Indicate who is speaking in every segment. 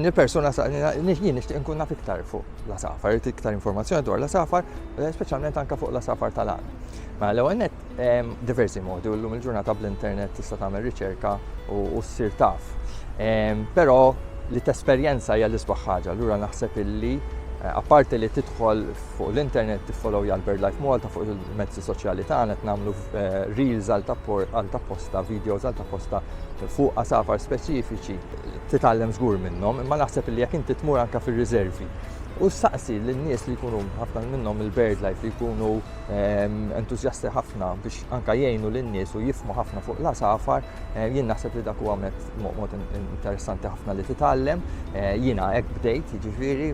Speaker 1: Il-persuna saqni jien nixtieq inkun naf iktar fuq l-għasafar, irid iktar informazzjoni dwar l-għasafar, eh, speċjalment anke fuq l-għasafar tal-għan. Ma mela, l-ewwel net ehm, diversi modi u llum il-ġurnata bl-internet tista' tagħmel riċerka u ssir taf. Ehm, però li tesperjenza hija l-isbaħ ħaġa, allura naħseb illi eh, apparti li tidħol fuq l-internet tiffollow jgħal BirdLife Malta fuq il-mezzi soċjali tagħna qed nagħmlu eh, reels għal tapposta, videos għal tapposta fuq għasafar speċifiċi titgħallem żgur minnhom, imma naħseb li jekk inti tmur anke fir-riservi u ssaqsi lin-nies li jkunu ħafna minnhom il-bird life li jkunu ehm, entużjasti ħafna biex anke jgħinu lin-nies u jifmu ħafna fuq la safar, eh, jien naħseb li dak huwa mezz mod interessanti ħafna li titgħallem. Eh, jiena hekk bdejt, jiġifieri,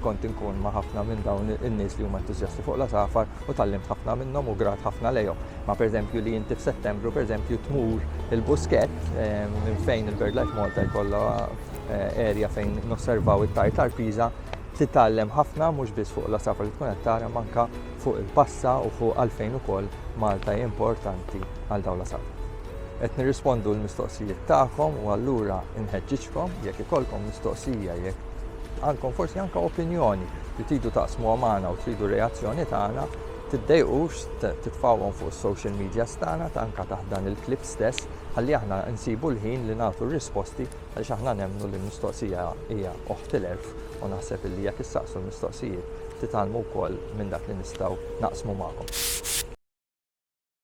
Speaker 1: kont inkun ma' ħafna minn dawn in-nies li huma entużjasti fuq la safar u tallimt ħafna minnhom u grat ħafna lejhom. Ma pereżempju li inti f'Settembru pereżempju tmur il-Buskett minn fejn il-BirdLife Malta jkollha eh, area fejn nosservaw it-tartar piża titgħallem ħafna mhux biss fuq l-asafar li tkun qed tara manka fuq il-passa u fuq għalfejn ukoll Malta importanti għal dawn l-asafar. Qed nirrispondu l-mistoqsijiet tagħkom u allura inħeġġiġkom jekk ikollkom mistoqsija jekk għandkom forsi anke opinjoni li tridu taqsmu magħna u tridu reazzjoni tagħna Tiddejqux titfgħuhom fuq is-social medias tagħna anke taħt dan il-clip stess ħalli aħna nsibu l-ħin li nagħtu r-risposti għaliex aħna nemmnu li l-mistoqsija hija oħt il-għerf u naħseb illi jekk issaqsu l-mistoqsijiet titgħallmu wkoll minn dak li nistgħu naqsmu magħkom.